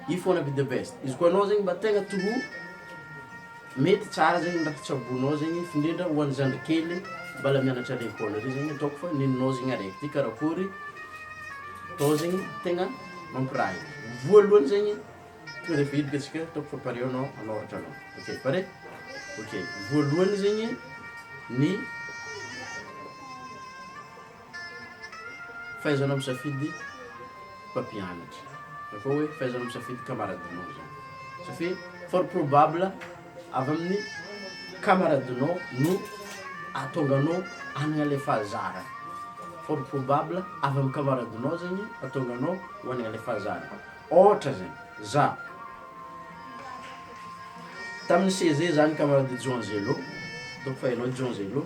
If you wanna be the best. Izy koa anao zegny mba tegna true, mety tsara zegny ny raha tsaboinao zegny f'indrindra ho an'ny zandry kely mbala mianatra à l'école regny zegny ataoko fa nenao zegny araiky ty karakôry atao zegny tegna mampiray. Voalohany zegny tonga de efa hiditra antsika ataoko fa pare anao hanoratra anao. Ok pare? Ok, voalohany zegny ny. Fahaizanao misafidy mpampianatra na koa hoe fahaizanao misafidy kamaradinao zany satria fort probable avy amin'ny kamaradinao no ahatonga anao hanagna le fahazarana, fort probable avy amin'ny kamaradinao zegny ahatonga anao ho hanagna le fahazarana, ôhatra zany zah tamin'ny CEG zah nikamarady John Zelo ataoko fahaizanao John Zelo.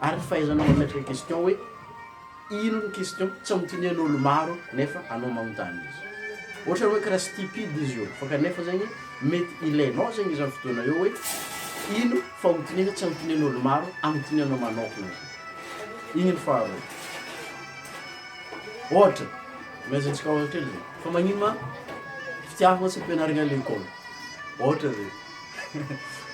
Ary fahaizanao mametraka ny question hoe ino ny question tsy anontanian' olo maro nefa anao manontany izy. Ohatra hoe karaha stupide izy io fa kanefa zegny mety ilainao zegny izany fotoana io hoe ino fanontaniana tsy anontanian' olo maro anontanianao manokana zany. Igny ny faharoa. Ohatra, omeza antsika ohatra kely zegny fa magnino ma fitiavagna tsy ampianarigna a lekôly? Ohatra zay.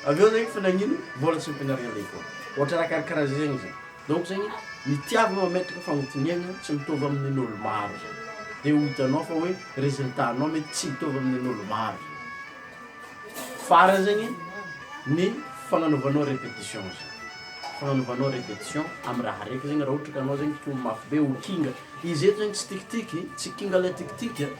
Avy eo zegny fa nagnino mbola tsy ampianarigny an-devoara? Ohatra raha karakaraha zay zegny izy. Donc zegny ny tiavy mametraka fagnontoniagna tsy mitovy amin'olo maro zegny. De ho hitanao fa hoe résultat nao mety tsy mitovy amin'olo maro zegny. Farany zegny ny fagnanovanao répétition zegny. Fagnanovanao répétition amy raha araiky zegny raha ohatra ka anao zegny to mafy be ho kinga. Izy eto zegny tsy tikitiky, tsy kinga le tikitiky a.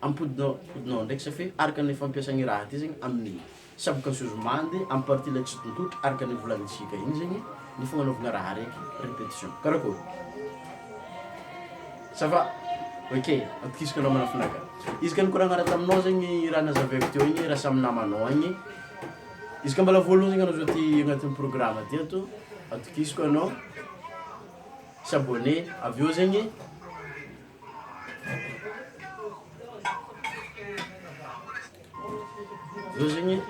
Ampodinao ampodinao andraikitra afe araka ny fampiasa ny raha ty zegny amy ny saboka zozo mande amy partie lay tsitontotry araka ny volagny tsika igny zegny ny fagnanaovagna raha araiky repetition karakôry ça va ok atokisako anao manafina ka izy ka nikoragna raha taminao zegny raha nazavaiko teo igny raha samy namanao agny izy ka mbola voalohany zegny anao zao ty agnatin'ny programme ty ato atokisako anao s'abonner avy eo zegny Zao zegny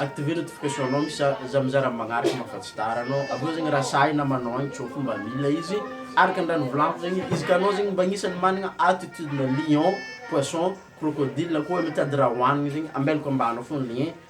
activer notification anao misy za za mizara magnaraka anao fa tsy tara anao avy eo zegny raha sahy namanao agny tsôa fo mba mila izy araka ny raha novolaniko zegny izy ka anao zegny mba agnisan'ny managna attitude-na lion, poisson, crocodile koa mitady raha hohanigny zegny ambelako ambany ao foagna ny lien.